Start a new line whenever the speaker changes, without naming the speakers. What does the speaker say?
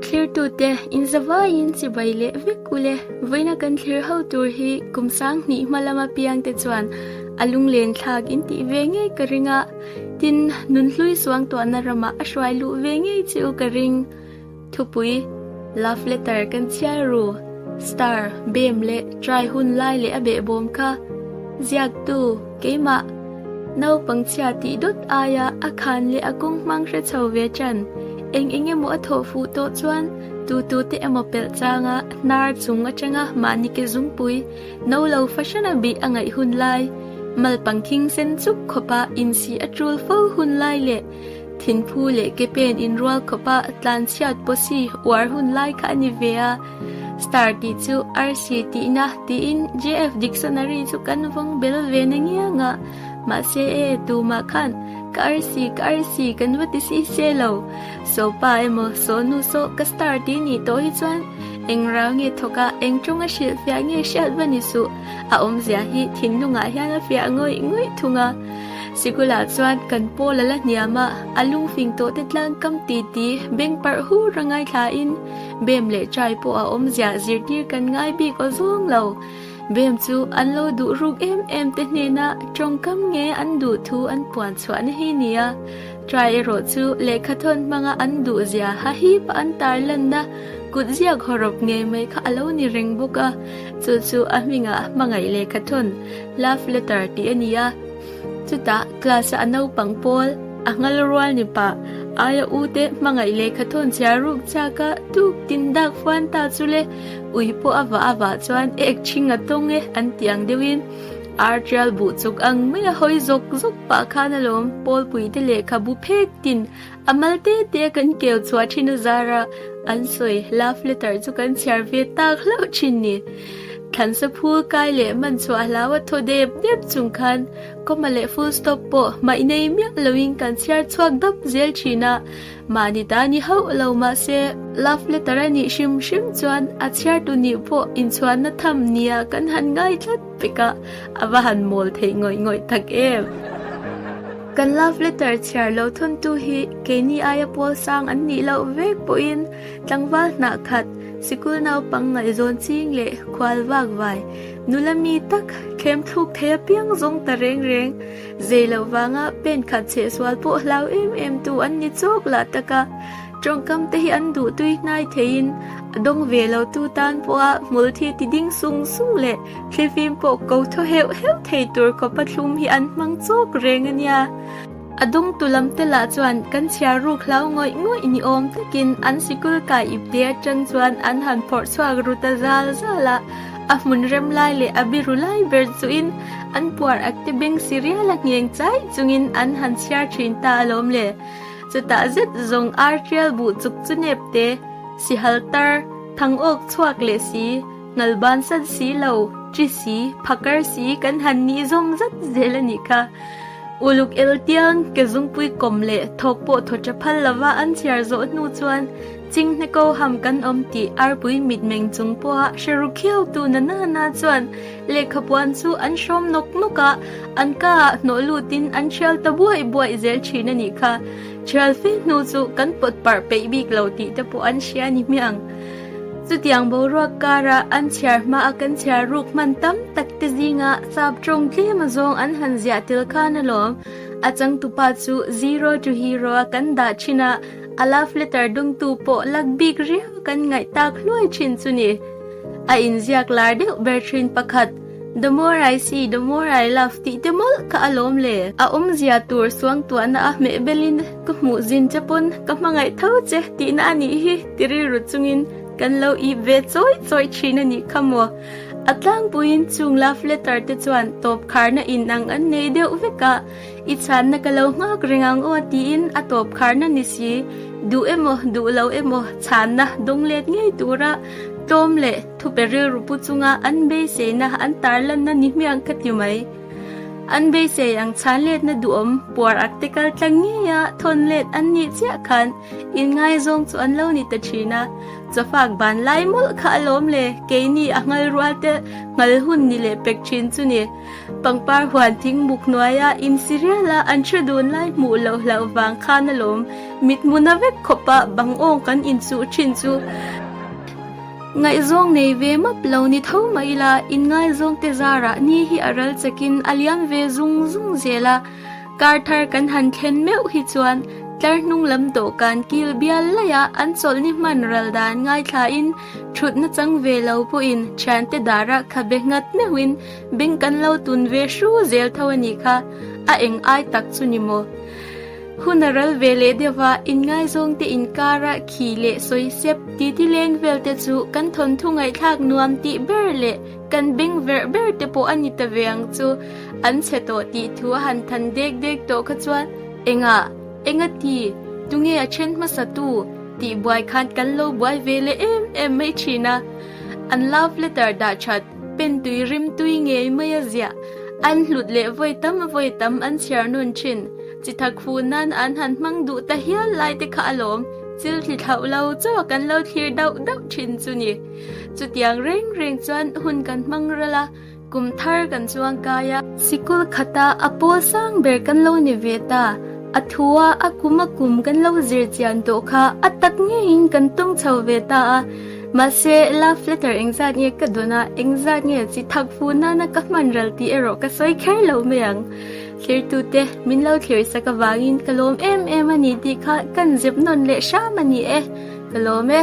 Thlir tu te in zavai in chibai le vek u le voina kan thlir ho tur hi kum sang hni hmalama piang te chuan alung len thlak in ti ve nge ka ringa tin nun hlui suang to na rama a hruai lu ve nge chi u ka ring thupui love letter kan chiai ru star bem le try hun lai le a be bom kha ziak tu Keimah naupang chhia tih dawt aia a khan leh a kawng hmang hre chho ve ṭan. Eng eng emaw a thawh fuh tawh chuan tu tu te emaw pelh changa hnar chung a ṭenga mahni ke zungpui no lo fashion a bih a ngaih hun lai, mal pang thing sen chuk khawpa insih a ṭul fo hun lai leh thinphu leh ke pen inrual khawpa tlan chhiat pawh si uar hun lai kha a ni ve a. Star tih chu arsi tihna tiin JF Dictionary chu kan vawng bel ve na ngiang a, mahse e, tumah khan ka arsi, ka arsi kan va ti si se lo. Sawpa emaw sawnu saw ka star tih nih tawh hi chuan eng rau nge thawk a, eng tawnga hrilh fiah nge hriat va ni suh, a awmzia hi thinlungah hian a fiah ngawih ngawih thung a. Sikula chuan kan paw la la hniam a, a lungfing tawhte tlangkam ti ti beng parh hur a ngaithla in, Bem leh Chai pawh a awm ziah zirtir kan ngai bik aw zawng lo. Bem chu an lo duh ruk em em te hnena tawngkam nge an duh thu an puan chhuah na hi ni a. Chai erawh chu lehkha thawn hmanga an duh zia hahi pah an tar lan na, kut ziak haw rawp nge mai kha a lo ni reng bawk a. Chu chu a hmingah hmangaih lehkha thawn, love letter, tih a ni a. Chutah class-a a naupang pawl, a nghal rual nipa, aia u te hmangaih lehkha thawnchhiar ruk chak a tuk tindak fuan ta chu le ui pawh a vah avah chuan ek chhing a tawng e an tih ang deuhin ar tial buh chuk ang mai a hawi zawk zawk pah khan alawm pawlpuite lehkhabu phek tin A mal te te a kan keu chhuah thin a zar a, an sawi love letter chu kan chhiar ve tak hlauh thin ni. Thlansa phul kai leh hman chhuah hlau a thaw dep dep chung khan comma leh full stop pawh hmaih nei miah lo in kan chhiar chhuak dap zel thin a, mahni ta ni hauh lo mahse love letter a nih hrim hrim chuan a chhiar tu nih pawh inchhuahna tham nia kan han ngai tlat. Tikah a va han mawl theih ngawih ngawih tak em! Kan love letter chhiar lo thuntu hi keini aia pawl sang an nih loh vek pawhin tlangval hnah khat sikul naupang ngaihzawn ching leh khual vak vai nula mi tak thlemthluk thei apiang zawng ta reng reng zei loh vanga pen khat chhehsual pawh hlau em em tu an ni chawk lah taka Tawngkam te hi an duh tui hnai theiin a dawng ve lo tu tan pawha hmul thi ti ding sung sung leh thil fim pawh ko thaw heuh heuh thei tur khawpa thlum hi an hmang chawk reng a nia. A dawng tu lam te lah chuan kan chhiar ruk hlau ngawih ngawih ni awm takin an sikul kai ip te atang chuan an han phawrh chhuak ruta zal zal a, a hmun rem lai leh a biru lai ber chuhin an puar ak te beng si rial a ngheng chai chungin an han chhiar thin ta alawm le. Chutah zet zawng ar tial buh chuk chu nep te, si hal tar, thang awk chhuak leh si, ngal ban san si lo, chi si, phakar si kan han nih zawng zat zel a nih kha. Uluk el tiang, ke zungpui kawm leh thawk pawh thaw tha phal lova an chhiar zawh hnu chuan, Ching hna ko ham kan awm tih arpui mitmeng chung pawha hre ru khiau tu nana na chuan lehkha puan chu an hrawm nawk nawk a, an ka ah hnawh lut in an thial ta buai buai zel thin a nih kha. Thial fe hnu chu kan pawt parh peih bik lo tih te pawh an hria ni hmiang. Chutiang boruak kar a an chhiar hma a kan chhiar ruk hman tam tak te zing a sap tawng tlem a zawng an han ziah tel khan alawm. A changtu pa chu zero to hero a kan dah thin a, a love letter dum tu pawh lak bik riau kan ngaih tak hluai thin chu ni. A inziak lar deuh ber thin pakhat, the more I see, the more I love tih te mawlh kha a lawm le. A awmzia tur suangtuahna a hmeh belin ka hmuh zin che pawn ka hmangaih tho che tihna a nih hi ti rilru chungin kan lo ip ve chawi chawi thin a nih kha maw. A tlangpuiin chung love letter te chuan tawpkharna inang an nei deuh vek a, I chhanna ka lo nghak reng ang aw tiin a tawpkharna ni si duh emaw duh lo emaw chhanna dawng let ngei tura tlawm leh thupe rilru pu chunga an beiseina an tarlanna ni hmiang ka ti mai. An beisei ang chhan letna duhawm puar ak te kal tlang ngei a thawn let an nih chiah khan in ngaizawng chu an lo ni ta thin a. Chawfak ban lai mawlh kha a lawm le keini a ngalrualte nghal hun ni leh pek thin chu ni. Pangpar huan thing muk hnuaia in serial-a an hre dun lai hmuh loh hlauh vang khan a lawm. Mit hmuna vek khawpa bangawng kan inchuh thin chu ngaihzawng nei ve map lo ni tho mah ila, in ngaizawngte zarah ni hi a ral chekin a liam ve zung zung zel a. Kar thar kan han thlen meuh hi chuan tlar hnunglam dawhkan kil bial laia an chawlh ni hman ral dan ngaithlain thutna chang ve lo pawhin thiante darah khabe nghat meuhin Beng kan lo tun ve hru zel tho a nih kha, a eng ai tak chu ni maw? Hun a ral ve leh deuh a, in ngaizawng te in kar a khi leh sawi sep, titi leng vel te chu kan thawnthu ngaihthlak nuam tih ber leh kan beng verh ber te pawh a ni ta ve ang chu, an chhe tawh tih thu a han than dek dek tawh kha chuan engah, engati, tunge a then hmasa tu? tih buai khan kan lo buai ve leh em em mai thin a, an love letter dah that. Pen tui rim tui ngei mai a ziah. An hlut leh vawi tam a vawi tam an chhiar nun thin. Chi tha khu nan an han hmang duh ta hial lai te kha a lawm. Thil hli thlauh lo chaw kan lo thlir dauh dauh thin chu ni. Chutiang reng reng chuan hun kan hmang ral a, kum thar kan chuang kai a. Sikul khata a pawl sang ber kan lo ni ve ta. A thu a, a kum a kum kan lo zir chian tawh kha a tak ngeiin kan tawng chho ve ta a. Mahse, love letter engzat nge ka dawn a, engzat nge chi thak fu nana ka hmanral tih erawh ka sawi kher lo mai ang. Thirtute, min lo thlir sak avangin ka lawm em em a ni tih kha kan zep nawn leh hram a ni e, ka lawm e.